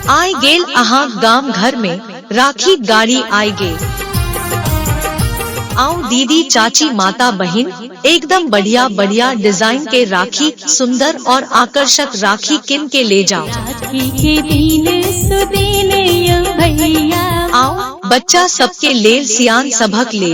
आय गेल अहा गाम घर में राखी गाड़ी आय गे आओ दीदी चाची माता बहन एकदम बढ़िया बढ़िया डिजाइन के राखी सुंदर और आकर्षक राखी किन के ले जाओ राखी के दिन सुदिन यो भैया आओ बच्चा सबके लेल सियान सबक ले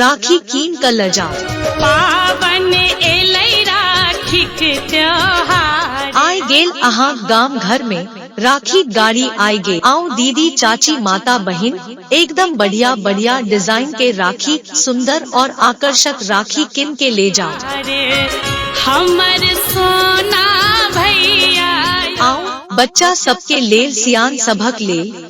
राखी कीन क ल जाओ पावन एलै राखीक त्योहार आय गेल अहाँ गाम घर में राखी गाड़ी आय गेल आउ दीदी चाची माता बहिन एकदम बढ़िया बढ़िया डिजाइन के राखी सुंदर और आकर्षक राखी किन के ले जाओ अरे हमर सोना भैया आउ बच्चा सबके लेल सियान सभक लेल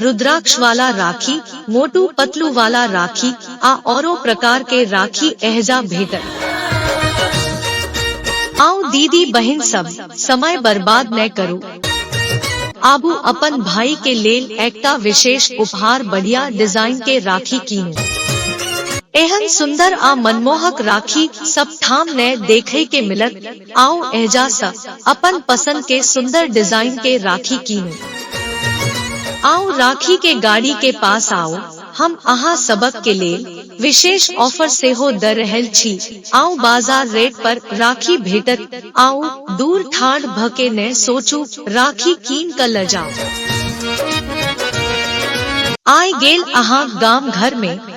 रुद्राक्ष वाला राखी मोटू पतलू वाला राखी आ औरो प्रकार के राखी एहजा भेटत आओ दीदी बहन सब समय बर्बाद न करू आबू अपन भाई के लेल एकटा विशेष उपहार बढ़िया डिजाइन के राखी कीनू एहन सुंदर आ मनमोहक राखी सब ठाम ने देखे के मिलत आओ एजा सा अपन पसंद के सुंदर डिजाइन के राखी कीनू आओ राखी के गाड़ी के पास आओ हम अहाँ सबक के लेल विशेष ऑफर से हो द रहल छी आओ बाजार रेट पर राखी भेटत आओ दूर ठाड़ भ के न सोचू राखी कीन क ल जाओ आय गेल अहाँ गाम घर में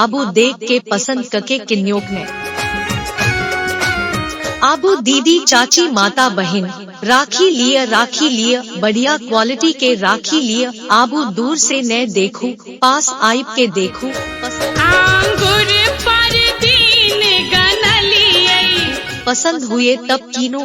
आबू देख के पसंद कके किन्योक ने आबू दीदी चाची माता बहन राखी लिए राखी लिए बढ़िया क्वालिटी के राखी लिए आबू दूर से न देखू पास आइब के देखू आंगुर पर दीन गनलियै पसंद हुए तब कीनो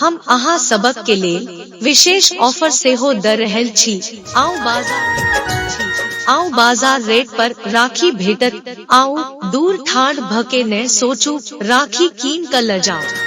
हम अहा सबक के लेल विशेष ऑफर से हो द रहल छी आउ बाजार आउ बाजार रेट पर राखी भेटत आउ दूर ठाढ़ भके ने सोचू राखी कीन क ल जाओ